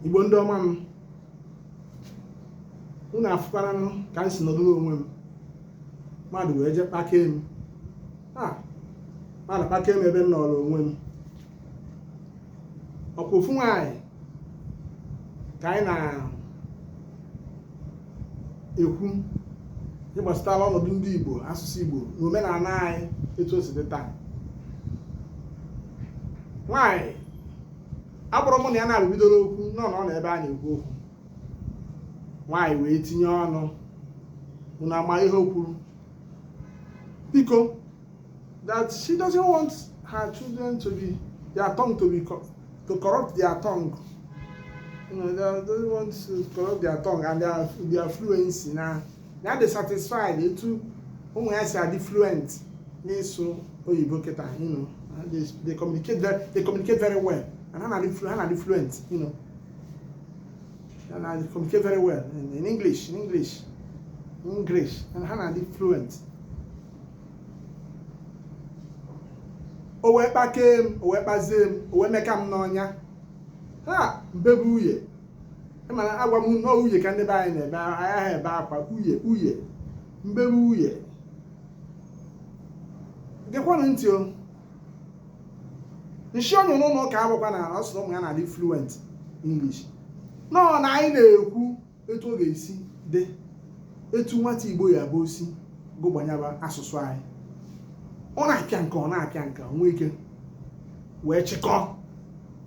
igbo ndị ọma m unu afụkwaranụ ka m si nọdụrụ onwe m mmadụ wee jee kpakee m a mmadụ kpakee m ebe m nọrọ onwe m ọkwa ofu nwaanyị ka anyị na-ekwu ihe gbasatara ọnọdụ ndị igbo asụsụ igbo na omenala anyị etu o si dị taa nwaanyị abụrọ mụ na ya na-arụ bidoro okwu nọ na ọ na ebe a na-ekwu okwu nwaanyị wee tinye ọnụ unu ama ihe o kwuru biko that she doesn't want her children to be their tongue to be to corrupt their tongue you know, they don't want to corrupt their tongue and their, their fluency na na adị satisfied etu ụmụ ya si adị fluent n'ịsụ oyibo kịta you know they, they communicate very they communicate very well and ha na-adị flu- ha na-adị fluent you know ha na-adị communicate very well in, in english in english in english and ha na-adị fluent o wee kpakee m o wee kpazie m o wee meka m n'ọnya ha m bebe uye mana agwa m na uye ka ndị be anyị na-ebe ahịa ebe akwa uye uye m bebe uye gekwanụ ntị o nshi onye n'ụlọ ụka abụkwa na ọ sị na ụmụ ya na-adị fluent English nọọ na anyị na-ekwu etu ọ ga-esi dị etu nwata Igbo ya bụ o si gụgbanyaba asụsụ anyị ọ na-apịa nke a ọ na-apịa nke a o nwee ike wee chịkọọ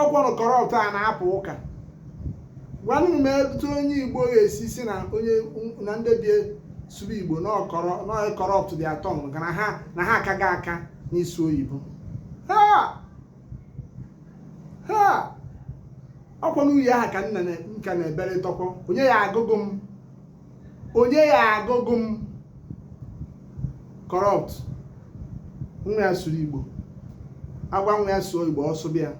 ọkwanụ corrupt a na-apụ ụka gwanụ m etu onye igbo ga-esi sị na onye na ndị be ya sụrụ igbo na ọ kọrọ na-corrupt their tongue maka na ha na ha akaghị aka n'ịsụ oyibo ha ha ọkwanụ uye aha ka nna na- m ka na-ebere tọkọ onye ya-agụgụ m onye ya-agụgụ m corrupt nwa ya sụrụ igbo agwa nwa ya sụọ igbo ọ sụbe ya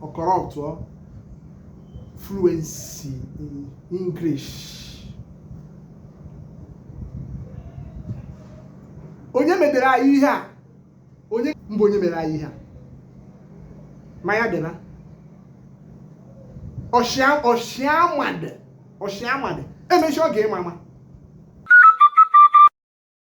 ọ corruptuo fluency in english onye medere anyị ihe a onye mbụ onye mere anyị ihe a ma ya dịba ọshịa ọshịamadị ọshịamadị emechi ọ ga-ịma mma